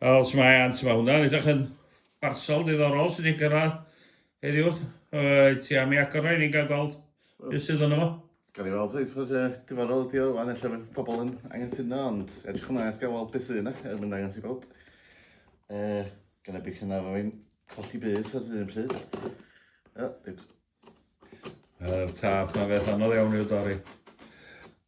Wel, sut mae Ant? Mae hwnna'n edrych yn barsol diddorol sydd wedi gyrraedd heddiw. Wyt ti am ei agor o i ni'n cael gweld beth sydd yno fo? Gawn ni weld faint mor uh, diddorol ydi o wan, ella fydd pobl yn anghytuno, ond edrych yna, gael weld beth sydd yna, er mynd angos i bawb. Uh, gan y bych yna fo fi'n colli bys ar un pryd. O, oh, Yr tap na beth anodd iawn i'w dorri.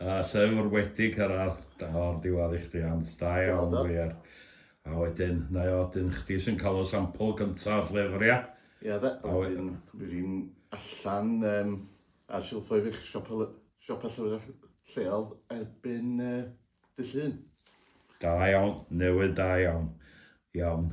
Yy llyfr wedi cyrradd o'r diwadd i chdi Ann, da iawn wir. A wedyn, na i o, dyn chdi sy'n cael y sampl gynta o'r llyfr ia? Ia de, a wedyn bydd hi'n allan yym ar silffoedd eich siopa llyfrau lleol erbyn yy Dy llun. Da iawn, newydd da iawn. Iawn.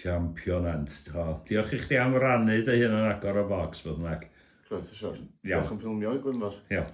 Champion Ernst. O, diolch i chdi am rannu dy hun yn agor y bocs, beth bynnag. Croeso, siwr. Diolch am ffilmio i Gwynfor. Iawn.